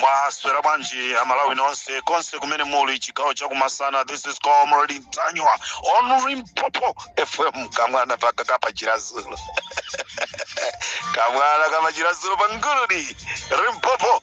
mwaswera bwanji amalawi nonse konse kumene muli chigawo chakumasana this is comrade ntanyiwa on limpopo fm kamwana pakaka pachiradzulu kamwana kamachiradzulu panguludi limpopo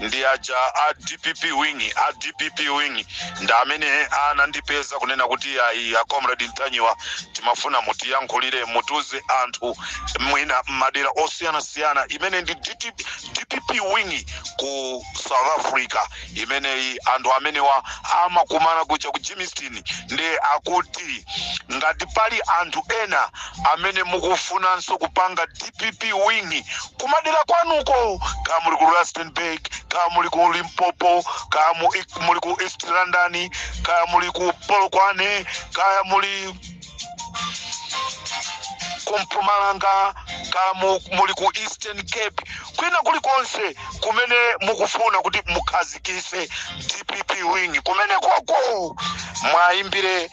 ndi aja a dpp wing a dpp wing ndi amene anandipeza kunena kuti ayi a comrade ntanyiwa timafuna mutiyankhulire mutiuze anthu mwina m'madera osiyanasiyana imeneyi ndi dpp wing ku south africa imeneyi anthu amenewa amakumana kuja ku germiston ndiye akuti ngati pali anthu ena amene mukufunanso kupanga dpp wing kumadera kwanuko kaya muli ku rustenburg kaya muli ku limpopo kaya mu- ik- muli ku east london kaya muli ku polokwane kaya muli ku mpumalanga kaya mu- muli ku eastern cape kwina kulikonse kumene mukufuna kuti mukhazikise dpp wing kumenekoko mwayimbire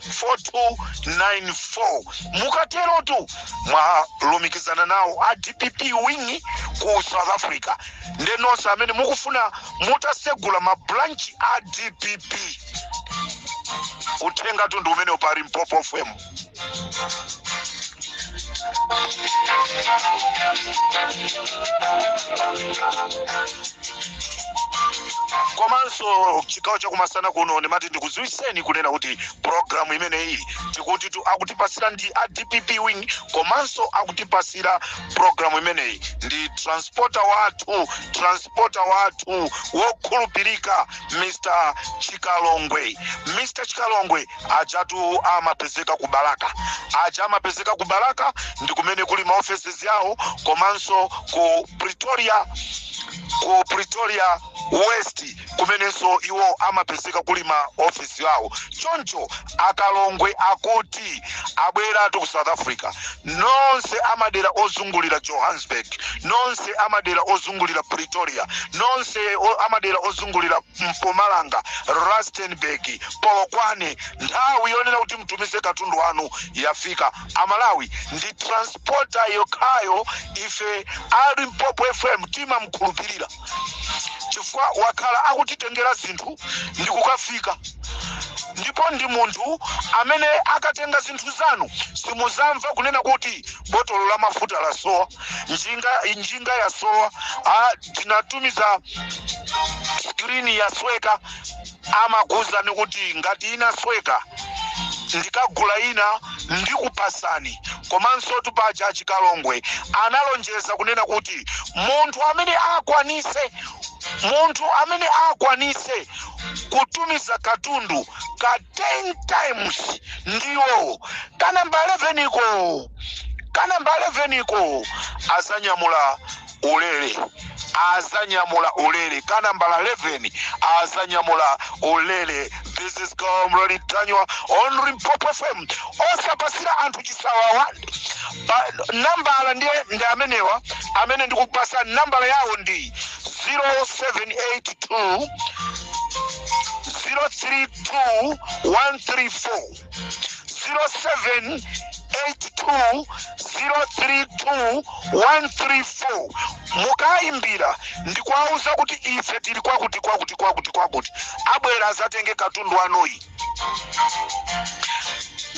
4294 mukaterotu mwalumikizana nawo a dpp wing ku south africa nde nonse amene mukufuna mutasegula mabranchi a dpp uthenga tu ndi umenewu pa limpopo fm komanso chigawo chakumasana kuno ndimati ndikudziwitseni kunena kuti programu imeneyi tikutitu akutipasira ndi a dpp wing komanso akutipasira programu imeneyi ndi transporta wathu transporta wathu wokhulupirika mr chikalongwe mr chikalongwe ajatu amapezeka ku balaka aja amapezeka ku balaka ndi kumene kuli ma offices yawo komanso ku pretoria ku pretoria west kumenenso iwo amapezeka kuli ma office yawo choncho a chikalongwe akuti abweratu ku south africa nonse amadera ozungulira johannesburg nonse amadera ozungulira pretoria nonse o- amadera ozungulira Mpumalanga, Rustenburg, Polokwane, nthawi yonena kuti mutumize katundu wanu yafika. Amalawi ndi transporter yokhayo ife a Limpopo FM timamkhulupirira chifukwa wakhala akutitengera zinthu ndi kukafika ndipo ndi munthu amene akatenga zinthu zanu simuzamva kunena kuti botolo la mafuta lasowa, njinga, njinga yasowa. Ah, tinatumiza screen yasweka amakuwuzani kuti ngati inasweka ndikagula ina ndikupasani komanso tipasa chikalongwe analonjeza kunena kuti munthu amene akwanise munthu amene akwanise kutumiza katundu ka 10 times ndiye kanamba 11 ko kanamba 11 ko azanyamula ulele azanyamula ulele ka nambala 11 azanyamula ulele this is comrade tanywa on limpopo fm osapatsira anthu chisawawa nambala ndiye ndi amenewa amene ndikupasa nambala yawo ndi 0782 032 134 0782032134 mukayimbira ndi kuwauza kuti ife tili kwakuti kwakuti kwakuti kwakuti abwere azatenge katundu wanuyo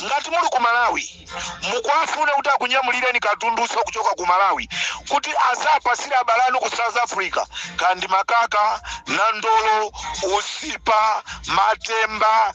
ngati muli ku malawi mukuwafune kuti akunyamulireni katunduso kuchoka ku malawi kuti azapatsire abale anu ku south africa kaya ndi makaka nandolo usipa matemba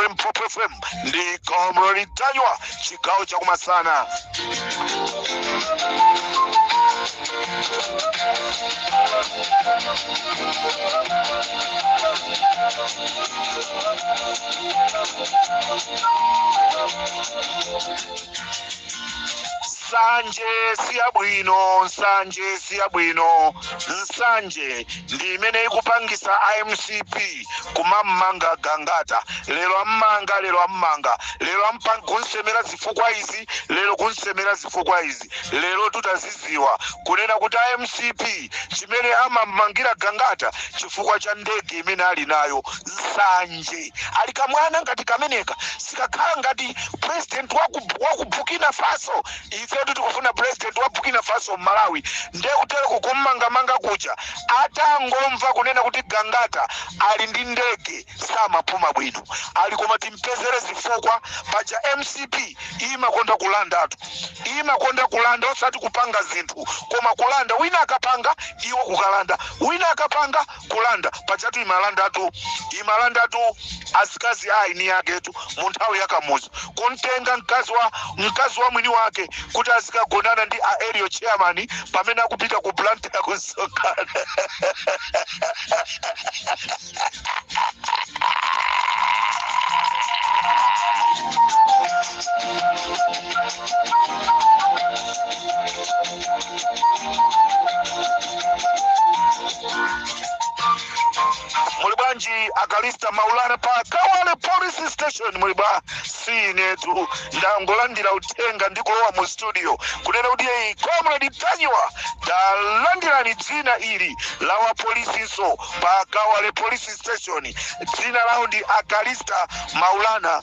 limpopo fm ndi comrade tanywa chigawo chakumasana nsanje siyabwino nsanje siyabwino nsanje ndi imene ikupangisa a mcp kumam'manga Gangata lero am'manga lero am'manga kumsemera zifukwa izi lero kumsemera zifukwa izi lerotu taziziwa kunena kuti a mcp chimene amam'mangira Gangata chifukwa cha ndege imene ali nayo nsanje ali kamwana ngati kameneka sikakhala ngati president waku Burkina Faso ifetu tikufuna president wa Burkina Faso m'Malawi nde kutereku kum'mangamanga kuja atangomva kunena kuti gangata ali ndi ndege samapuma bwino ali koma timpezere zifukwa paja mcp imakonda kulandatu imakonda kulanda osati kupanga zinthu koma kulanda wina akapanga iwo kukalanda wina akapanga kulanda pajatu imalandatu imalandatu azikazi a eni aketu mu nthawi ya kamuzu kumtenga mkazi wa mkazi wa mwini wake kuti azikagonana ndi a area chairman pamene akupita ku plant ya kumsonkhano muli bwanji a Kalista maulana pa kawale police station muli bwa si inetu ndangolandira uthenga ndikulowa mu studio kunena kuti eyi comrade Ntanyiwa talandirani dzina ili la wapolisinso pa kawale police station dzina lawo ndi a Kalista maulana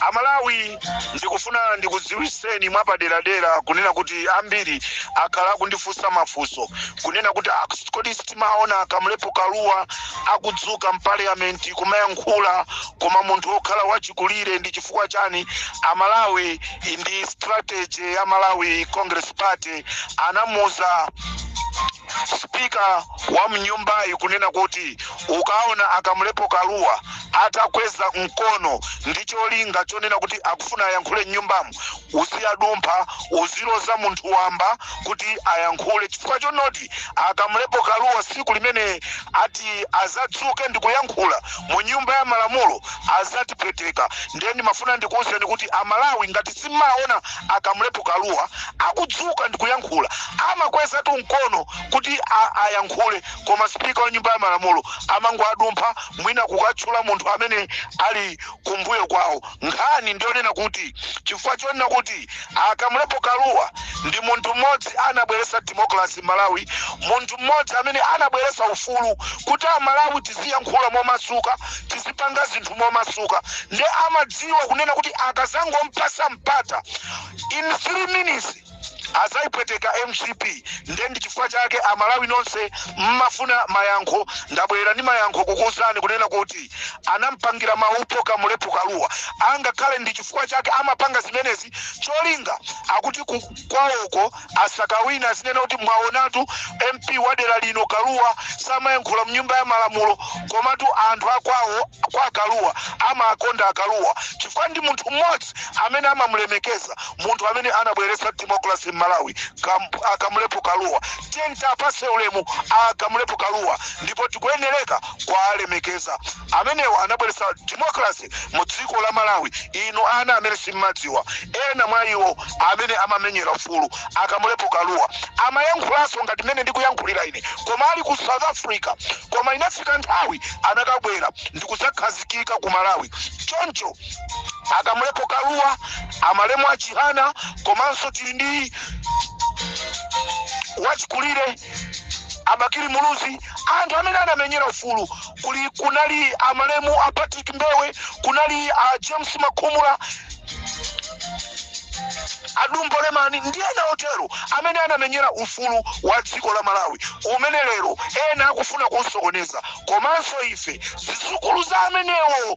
amalawi ndikufuna ndikudziwiseni mwapaderadera kunena kuti ambiri akhala akundifunsa mafunso kunena kuti "Ah, kodi sitimaona kamlepo kalua akudzuka m'paliyamenti kumayankhula koma munthu wokhala wachikulire ndi chifukwa chani amalawi ndi strategy ya malawi congress party anamuza spika wa mnyumbayi kunena kuti ukaona a Kamlepo Kalua atakweza mkono ndi cholinga chonena kuti akufuna ayankhule mnyumbamo uziwadumpha uziloza munthu wamba kuti ayankhule chifukwa chonoti a Kamlepo Kalua siku limene ati azadzuke ndi kuyankhula mu nyumba ya malamulo azatipweteka ndiye ndimafuna ndikuwuzeni kuti amalawi ngati simmaona a Kamlepo Kalua akudzuka ndi kuyankhula amakwezatu mkono kuti ayankhule koma speaker wa nyumba ya malamulo amangowadumpha mwina kukatchula munthu amene ali kumbuyo kwawo nkhani ndiyonena kuti chifukwa chonena kuti a Kamlepo Kalua ndi munthu mmodzi anabweretsa democracy malawi munthu mmodzi amene anabweretsa ufulu kuti amalawi tiziyankhula momasuka tizipanga zinthu momasuka ndiye amadziwa kunena kuti akazangompasa mpata in 3 minutes azaipweteka mcp nde ndi chifukwa chake amalawi nonse mmafuna mayankho ndabwera ndi mayankho kukuuzani kunena kuti anampangira maupo Kamlepo Kalua angakhale ndi chifukwa chake amapanga zimenezi cholinga akuti ku- kwawoko asakawina azinena kuti mwaonatu mp wa dera lino Kalua samayankhula mnyumba ya malamulo komatu anthu akwawo kwa Kalua amakonda Kalua chifukwa ndi munthu mmodzi President amene amamulemekeza munthu amene anabweretsa democracy m'Malawi Kam, a Kamulepo Kaluwa. Tiyeni tiapase ulemu a Kamulepo Kaluwa ndipo tikuyenereka kuwalemekeza. Amenewa anabweretsa democracy mu dziko la Malawi. Inu ana amene simmadziwa ena mwa iwo amene amamenyera ufulu a Kamulepo Kaluwa amayankhulanso ngati mmene ndikuyankhulira ine koma ali ku South Africa koma inafika nthawi anakabwera ndikudzakhazikika ku Malawi choncho a kamulepo kaluwa amalemu a chihana komanso tili ndi achikulire a bakili muluzi anthu amene anamenyera ufulu kuli kunali amalemu a patrick mbewe kunali a james makhumula a dumbo lemani ndi ena otero amene anamenyera ufulu wa dziko la malawi umene lero ena akufuna kusokoneza komanso ife zizukulu za amenewo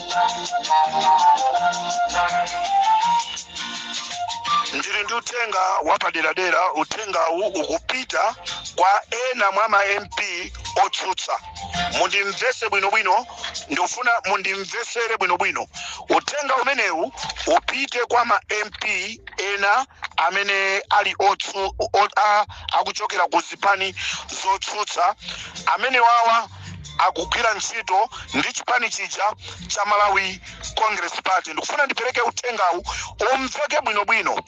ndili ndi uthenga wapaderadera uthengawu ukupita kwa ena mwa ma mp otsutsa mundimvese bwinobwino ndikufuna mundimvesere bwinobwino uthenga umenewu upite kwa ma mp ena amene ali otsu, o, a, akuchokera ku zipani zotsutsa amene wawa akugwira ntchito ndi chipani chija cha malawi congress party ndikufuna ndipereke uthengawu umveke bwinobwino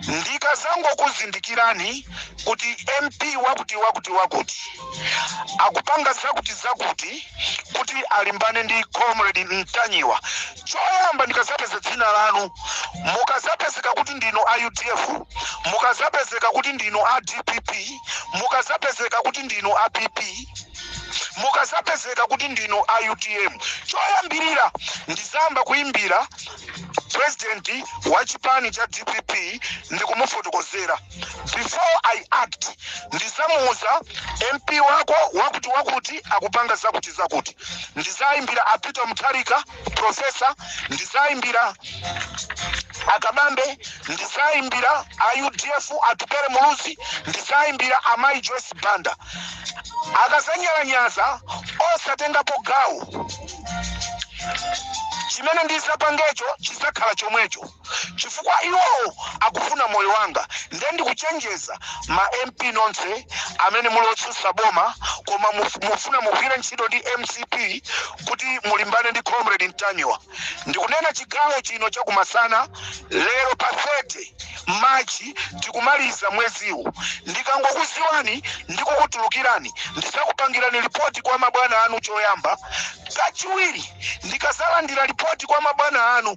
ndikazangokuzindikirani kuti mp wakuti wakuti wakuti akupanga zakuti zakuti kuti alimbane ndi comrade mtanyiwa choyamba ndikazapeza dzina lanu mukazapezeka kuti ndinu a udf mukazapezeka kuti ndinu a dpp mukazapezeka kuti ndinu a pp mukazapezeka kuti ndinu a utm choyambirira ndizayamba kuimbira president wa chipani cha dpp ndikumufotokozera before i act ndizamuuza mp wako wakuti wakuti akupanga zakuti zakuti ndizaimbira a peter mutharika profesa ndizaimbira a kabambe ndizaimbira a udf atupere muluzi ndizaimbira amayi joyce banda akazanyalanyaza osatengapo gawo chimene ndizapangecho chizakhala chomwecho chifukwa iwowo akufuna moyo wanga nde ndikuchenjeza ma mp nonse amene muli otsutsa boma koma muf- mufuna mugwire ntchito ndi mcp kuti mulimbane ndi comrade mtanyiwa ndikunena chigawo chino chakumasana lero pa 30 machi tikumaliza mweziwu ndikangokuziwani ndikukutulukirani ndizakupangirani lipoti kwa mabwana anu choyamba kachiwiri ndikazalandira lipoti kwa mabwana anu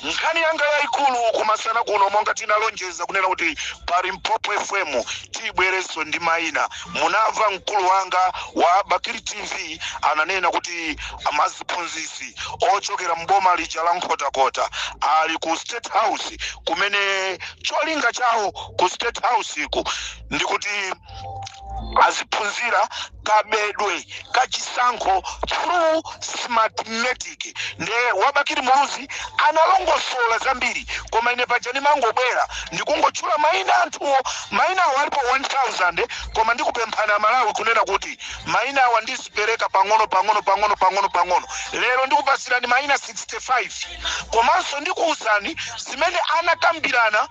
Nkhani yanga yaikulu kumasana kuno monga tinalonjeza kunena kuti pa Limpopo FM tibweretsanso ndi maina. Munamva mkulu wanga wa Bakili TV ananena kuti maziphunzitsi ochokera m'boma lija la Nkhotakota ali ku State House kumene cholinga chawo ku State House ku ndikuti aziphunzira kabedwe kachisankho through smartmatic nde wa Bakili Muluzi analongosola zambiri koma ine paja ndimangobwera ndikungotchula mayina anthuwo mayinawo alipo 1000 koma ndikupemphani aMalawi kunena kuti mayinawa ndizipereka pang'ono pang'ono pang'ono pang'ono pang'ono lero ndikupasirani mayina 65 komanso ndikuwuzani zimene anakambirana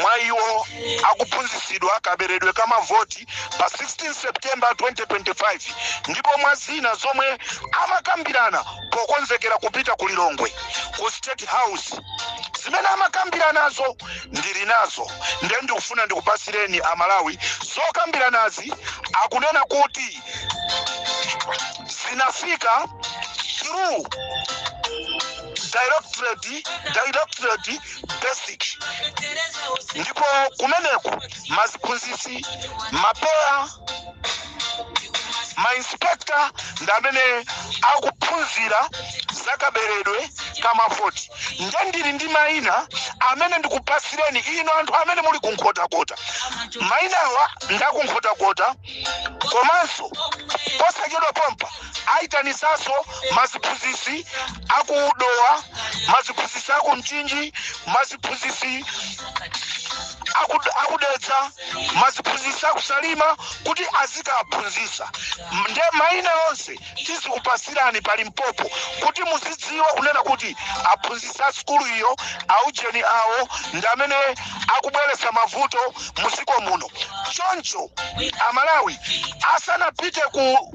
mwa iwo akuphunzitsidwa kaberedwe ka mavoti pa 16 september 2025 ndipo mwa zina zomwe amakambirana pokonzekera kupita ku lilongwe ku state house zimene amakambiranazo ndili nazo nde ndikufuna ndikupasireni amalawi zokambiranazi akunena kuti zinafika through directorate basic ndipo kumeneku maziphunzitsi ma PEA mainspekta ndi amene akuphunzira zakaberedwe kamavoti nde ndili ndi mayina amene ndikupasireni inu anthu amene muli kunkhotakota mayinawa ndakunkhotakota komanso posachedwa pompa ayitanitsanso maziphunzitsi aku dowa maziphunzitsi aku mchinji maziphunzitsi aku- akudedza maziphunzitsi akusalima kuti azikaphunzitsa nde maina onse tizikupasirani pa limpopo kuti muzidziwa kunena kuti aphunzitsi a sukulu iyo aujeni awo ndi amene akubweretsa mavuto mu dziko muno choncho amalawi asanapite ku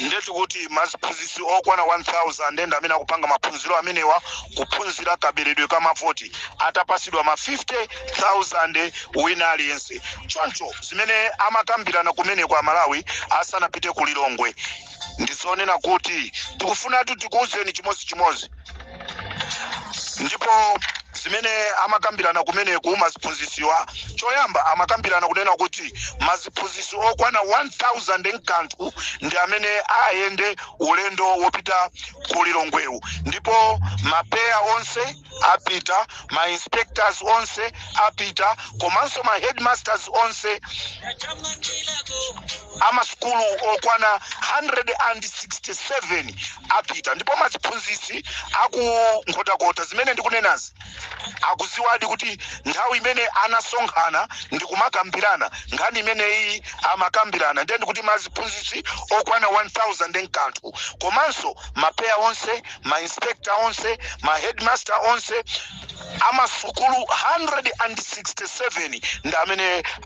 ndetu kuti maziphunzitsi okwana 1000 ndi amene akupanga maphunziro amenewa kuphunzira kaberedwe ka mavoti atapasidwa ma 50000 wina aliyense choncho zimene amakambirana kumeneko aMalawi asanapite ku lilongwe ndizonena kuti tikufunatu tikuuzeni chimodzichimodzi ndipo zimene amakambirana kumeneku maziphunzisiwa choyamba amakambirana kunena kuti maziphunzisi okwana 1000 nkanthu ndi amene ayende ulendo wopita ku lilongwewu ndipo ma PEA onse apita ma inspectors onse apita komanso ma headmasters onse amasukulu okwana 167 apita ndipo maziphunzitsi a ku Nkhotakota zimene ndikunenazi akuziwadi kuti nthawi imene anasonkhana ndi kumakambirana nkhani imeneyi amakambirana ndiye ndikuti maziphunzitsi okwana 1000 n'kanthu komanso mapeya onse ma inspector onse ma headmaster onse amasukulu 167 ndi amene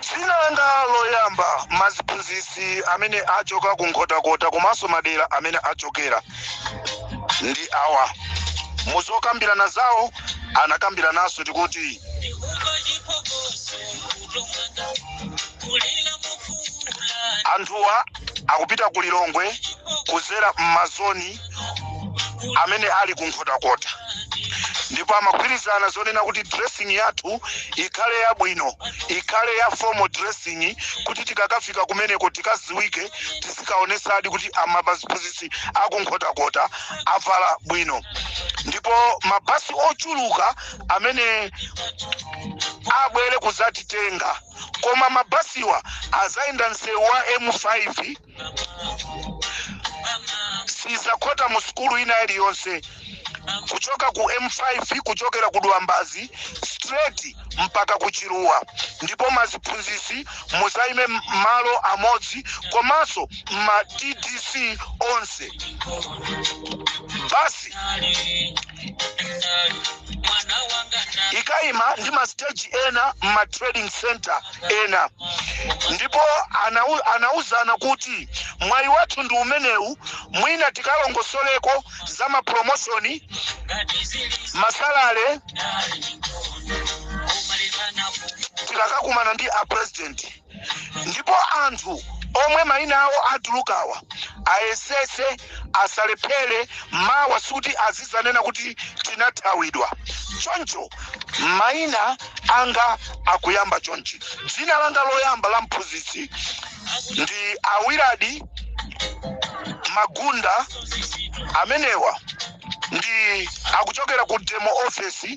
dzina langa loyamba maziphunzitsi amene achoka ku nkhotakota komanso madera amene achokera ndi awa muzokambirana zawo anakambirananso kuti anthuwa akupita ku lilongwe kuzera m'mazoni amene ali ku nkhotakota ndipo amagwirizana zonena kuti dressing yathu ikhale yabwino ikhale ya formal dressing kuti tikakafika kumeneko tikaziwike tizikaonesadi kuti amaziphunzitsi aku nkhotakota avala bwino ndipo mabasi ochuluka amene abwere kuzatitenga koma mabasiwa azayenda msewu wa m5 sizakhota mu sukulu ina iliyonse kuchoka ku m5 kuchokera ku dwambazi straight mpaka ku chiluwa ndipo maziphunzisi muzaime malo amodzi komanso ma tdc onse basi ikaima ndi ma stage ena ma trading center ena ndipo anau, anauzana kuti mwayi wathu ndi umenewu mwina tikalongosoleko za mapromoshoni ma salary tikakakumana ndi a president ndipo anthu omwe mayina awo atulukawa ayesese asalephere mawa sikuti azizanena kuti tinathawidwa choncho maina anga akuyamba chonchi dzina langa loyamba la mphunzitsi ndi awiradi magunda amenewa ndi akuchokera ku DEM office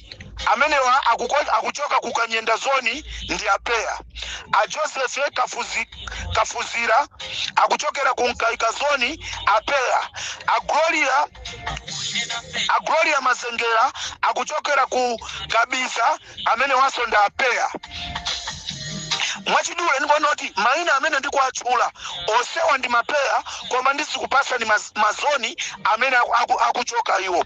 Amenewa akukon, akuchoka ku Kanyenda zone ndi a Peya. A Joseph Kafuzi, Kafuzira akuchokera ku Mkaika zone a Peya. A Gloria, a Gloria Mazengera akuchokera ku Kabiza amenewanso ndi a Peya. mwachidule ndikuona kuti maina amene ndikuwatchula onsewa ndi mapeya koma ndizikupasa ndi maz- mazoni amene aku- aku- akuchoka iwo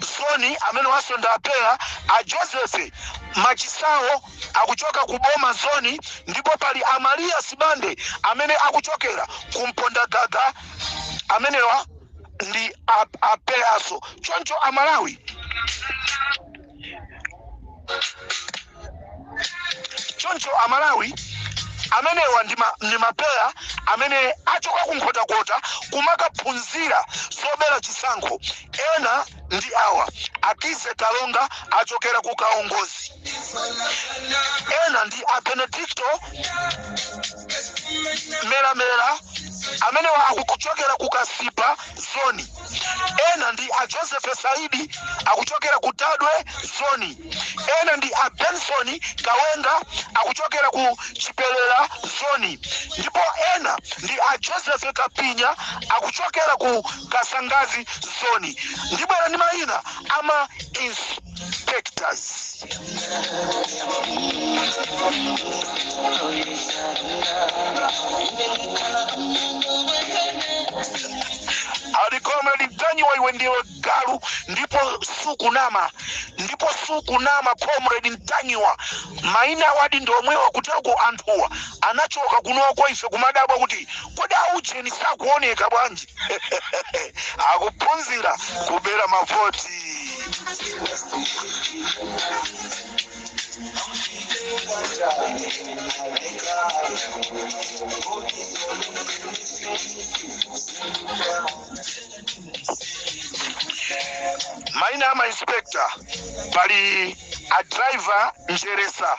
zoni amenewanso ndi apeya a joseph machisawo akuchoka ku boma zoni ndipo pali amaliya sibande amene akuchokera ku mpondagaga amenewa ndi a- apeyaso choncho amalawi choncho amalawi amenewa ndi ma- ndi mapeya amene achoka ku nkhotakota kumakaphunzira zobera chisankho ena ndi awa akize kalonga achokera ku kaongozi ena ndi a benedicto melamela amenewa akuchokera ku kasipa zoni ena ndi a Joseph Saidi akuchokera ku Tadwe zoni, ena ndi a Benson Kawenga akuchokera ku Chipelela zoni ndipo ena ndi a Joseph Kapinya akuchokera ku Kasangazi zoni. Ndibwera ndi mayina ama inspectors. a comrade mtanyiwa iwe ndiwe galu ndipo sukunama ndipo sukunama comrade mtanyiwa maina awodi ndi omwewa kuteroko anthuwa anachoka kunoko ife kumadabwa kuti kodi aujeni sakuoneka bwanji akuphunzira kubera mavoti maina a mainspector pali a driver njeresa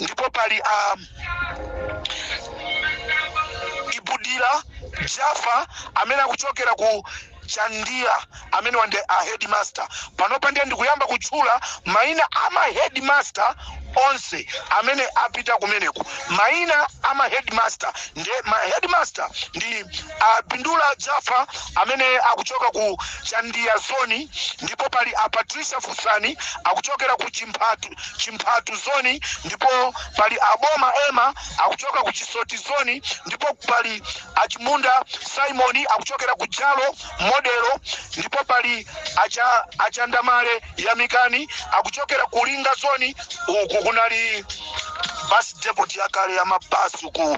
ndipo pali a bindula jafa amene akuchokera ku chandiya amenewa ndi a headmaster panopa ndiye ndikuyamba kutchula mayina a ma headmaster onse amene apita kumeneko mayina a ma headmaster ndi ma headmaster ndi a Bindula Jaffa amene akuchoka ku Chandiya zone ndipo pali a Patricia Fusani akuchokera ku Chimphatu zone ndipo pali a Boma Emma akuchoka ku Chisoti zone ndipo pali a Chimunda Simon akuchokera ku Jalo modelo ndipo pali acha, achandamale Yamikani akuchokera ku Linga zone uku kunali bus depot yakale ya mabasi uku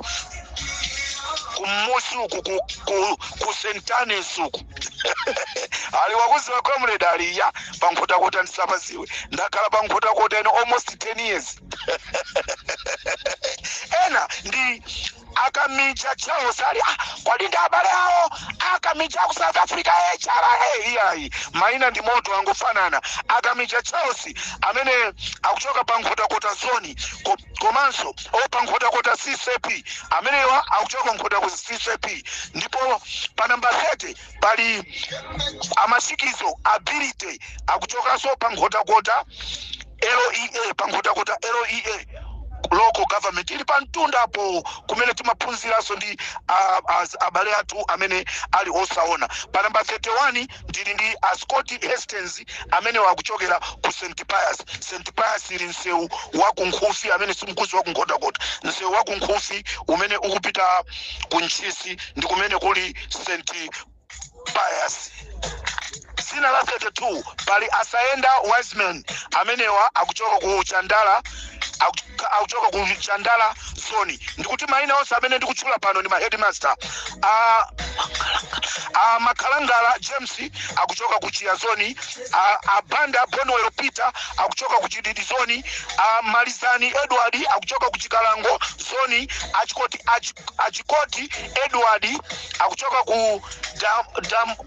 kumusi uku ku, ku, ku sentanes uku ali wokuziwa comrade aliya pankhotakota ndisapaziwe ndakhala pankhotakota ino almost 10 years ena ndi akamicha charles ali ah, kodi ndi abale awo akamicha ku south africa hra iyayi maina ndi moto angofanana akamicha charles amene akuchoka pa nkhotakota zoni ku komanso opa nkhotakota ccp amenewa akuchoka ku nkhotakota ccp ndipo pa namba 30 pali a masikizo ability akuchokanso pa nkhotakota lea pa nkhotakota lea local government ili pa mtunda apo kumene timaphunziranso ndi ah, as- abale athu amene ali osaona pa namba 31 ndili ndi a scott hastings amenewa akuchokera ku st pius st pius ili msewu wa kunkhufi amene simukuziwa kunkhotakota msewu wa kunkhufi umene ukupita ku ntchisi ndi kumene kuli st pius dzina la 32 pali asayenda wiseman amenewa akuchoka ku chandala akuchoka akuchoka ku chandala zoni ndikuti maina onse amene ndikutchula pano ndi maheadmaster a a makhalangala james akuchoka ku chiya zoni a, a banda bonwell peter akuchoka ku chididi zoni a malizani edward akuchoka ku chikalango zoni achikoti Achi- achikoti edward akuchoka ku dam, dam,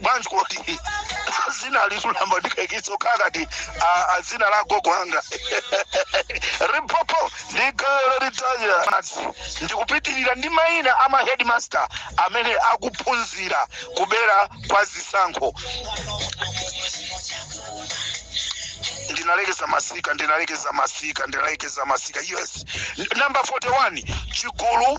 bwanji koti zina likutuluka ndikaikitsa ukhakati azina la gogo anga ripopo ndigolo litaya madzi ndikupitiriza ndi mayina a mahedmaster amene akuphunzira kubera kwa zisankho ndinalekeza masika ndinalekeza masika ndinalekeza masika yes N- number 41 chigulu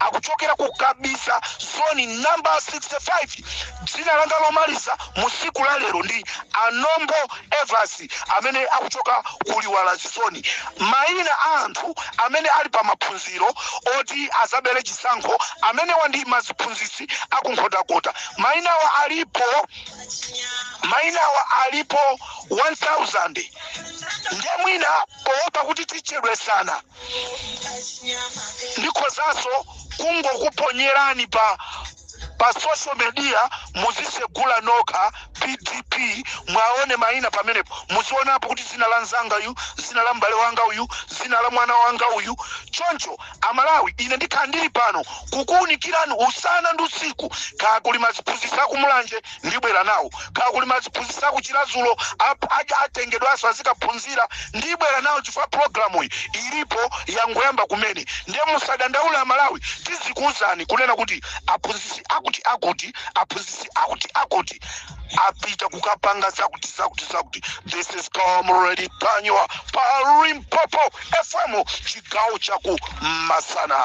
akuchokera ku kabiza zoni namba 65 dzina langa lomaliza mu siku la lero ndi anombo evas amene akuchoka ku liwaladzi zoni mayina a anthu amene ali pa maphunziro oti azabere chisankho amenewa ndi maziphunzitsi akunkhotakota mayinawa alipo mayinawa alipo 1000 ndiye mwina poopa kuti tichedwetsana ndikhozanso kungokuponyerani pa pa social media muzisegula nokha pdf muwaone maina pamenepo muzionapo kuti zina la mnzanga uyu zina la m'bale wanga uyu zina la mwana wanga uyu choncho amalawi ine ndikhala ndili pano kukuunikirani usana ndi usiku kaya kuli maziphunzitsi akumulanje ndibwera nawo kaya kuli maziphunzitsa kuchiradzulo apaja atengedwanso azikaphunzira ndibwera nawo chifukwa programu iyi ilipo yangoyamba kumene ndiye musadandaule amalawi tizikuwuzani kunena kuti aphunzitsi akuti akuti aphunzitsi akuti akuti apita kukapanga zakuti zakuti zakuti this is comrade panywa pa limpopo fm chigawo chaku masana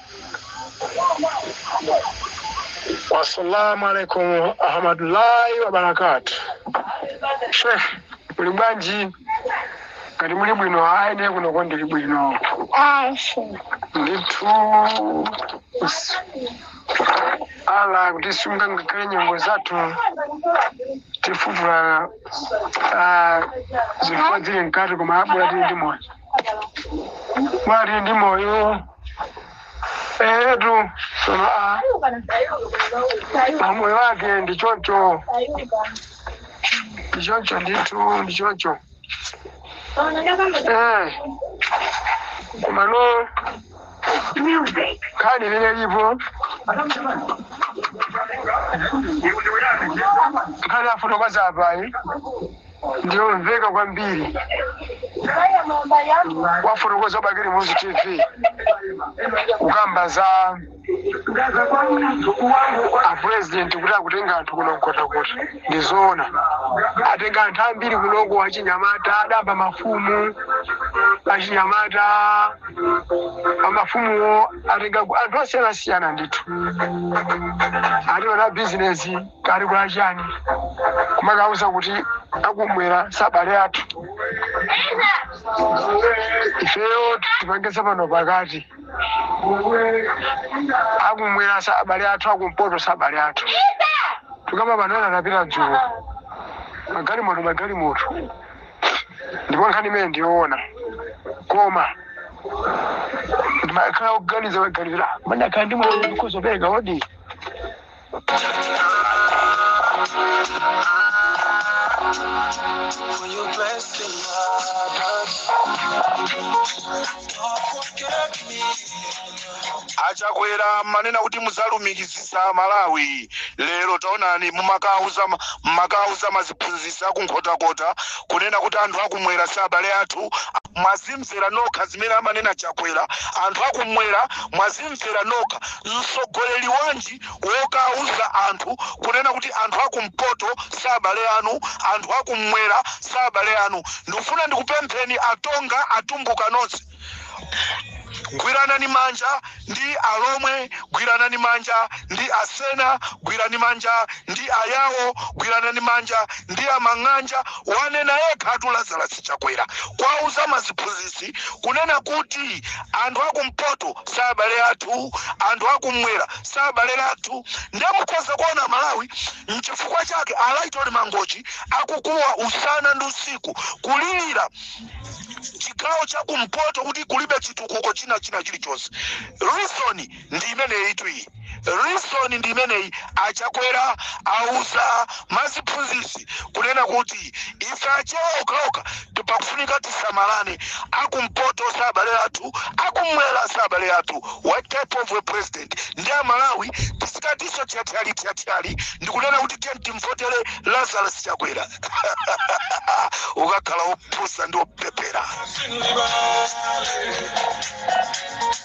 Assalamu alaikum warahmatullahi wabarakatu. Sheikh, muli bwanji? Ngati muli bwino ayi ndiye kunoko ndili bwino. Ndithu s- Allah akutisunga ngakhale nyengo zathu tifufula ah, zifukwa zili mkati koma abula tili ndi moyo. tili ndi moyo etu sono mamoyo wake ndi choncho ndi choncho ndithu ndi choncho Eh, komano nkhani ilipo nkhani afotokoza apayi ndiyomveka kwambiri wafotokoza bakili muluzi tv kukamba za apurezidenti kuti akutenga anthu ku nkhotakota ndizoona atenga anthu ambiri kunoko achinyamata adamba mafumu achinyamata amafumuwo atenga ku- anthu osiyanasiyana ndithu ati ona bizinesi kale kwa chani kumakauza kuti akumwera si abale athu ifeyo tipange za pano pakati akumwera si abale athu akumpoto si abale athu tikukamba pano ena anapita dzulo magalimoto magalimoto ndipo nkhani imeneyi ndiyoona koma ndimakhala kuganiza maganizira manakhala ndi mwana kuzopereka odi For your blessing, Lord. Don't forget me. achakwera mumanena kuti muzalumikizisa malawi lero taonani mumakauza maziphunzisa kunkhotakota kunena kuti anthu akumwera si abale athu mwazimvera nokha zimene amanena chakwera anthu akumwera mwazimvera nokha mtsogoleri wanji mtsogoleri wanji wokauza anthu kunena kuti anthu akumpoto sabale anu anthu akumwera sabale anu ndikufuna ndikupempheni atonga atumbuka nonse gwiranani manja ndi alomwe gwiranani manja ndi asena gwirani manja ndi ayawo gwiranani manja ndi amang'anja wanena yekhatu lazarasi chakwera kwauza maziphunzitsi kunena kuti anthu akumpoto si abale athu anthu akumwera si abale athu ndiye mukhoza kuona malawi mchifukwa chake alaitoli mangochi akukuwa usana ndi usiku kulilira chigawo cha kumpoto kuti kulibe chitukuko china china chilichonse reason ndi imeneyitu iyi Reason ndi imeneyi a Chakwera auza maziphunzitsi kunena kuti ife achewa okhaokha pakufunika tisamalane akumpoto si abale athu akumwera si abale athu. What type of a president? Ndi a Malawi tizikatinso thyathyali thyathyali ndikunena kuti tiyeni timvotere Lazarus Chakwera ukakhala opusa ndi opepera.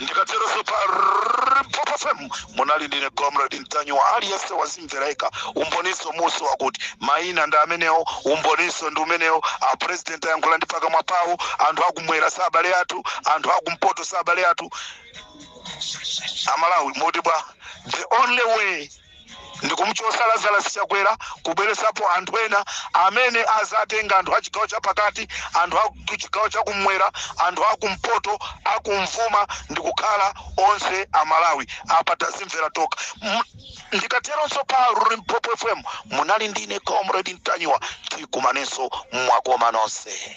ndikateronso pa limpopo fm munali ndine comrade ntanyiwa aliyense wazimvera yekha umboninso muso wakuti mayina ndi amenewo umboninso ndi umenewo apresident ayankhula ndi pakamwa pawo anthu akumwera si abale athu anthu akumpoto si abale athu amalawi muti bwa the only way ndikumuchosa Lazarus Chakwera kubweresapo anthu ena amene azatenga anthu achigawo chapakati anthu achigawo chakumwera anthu akumpoto akumvuma ndikukhala onse amalawi apa tazimvera toka ndikateronso pa Limpopo FM munali ndine comrade Ntanyiwa tikumanenso mwakoma nonse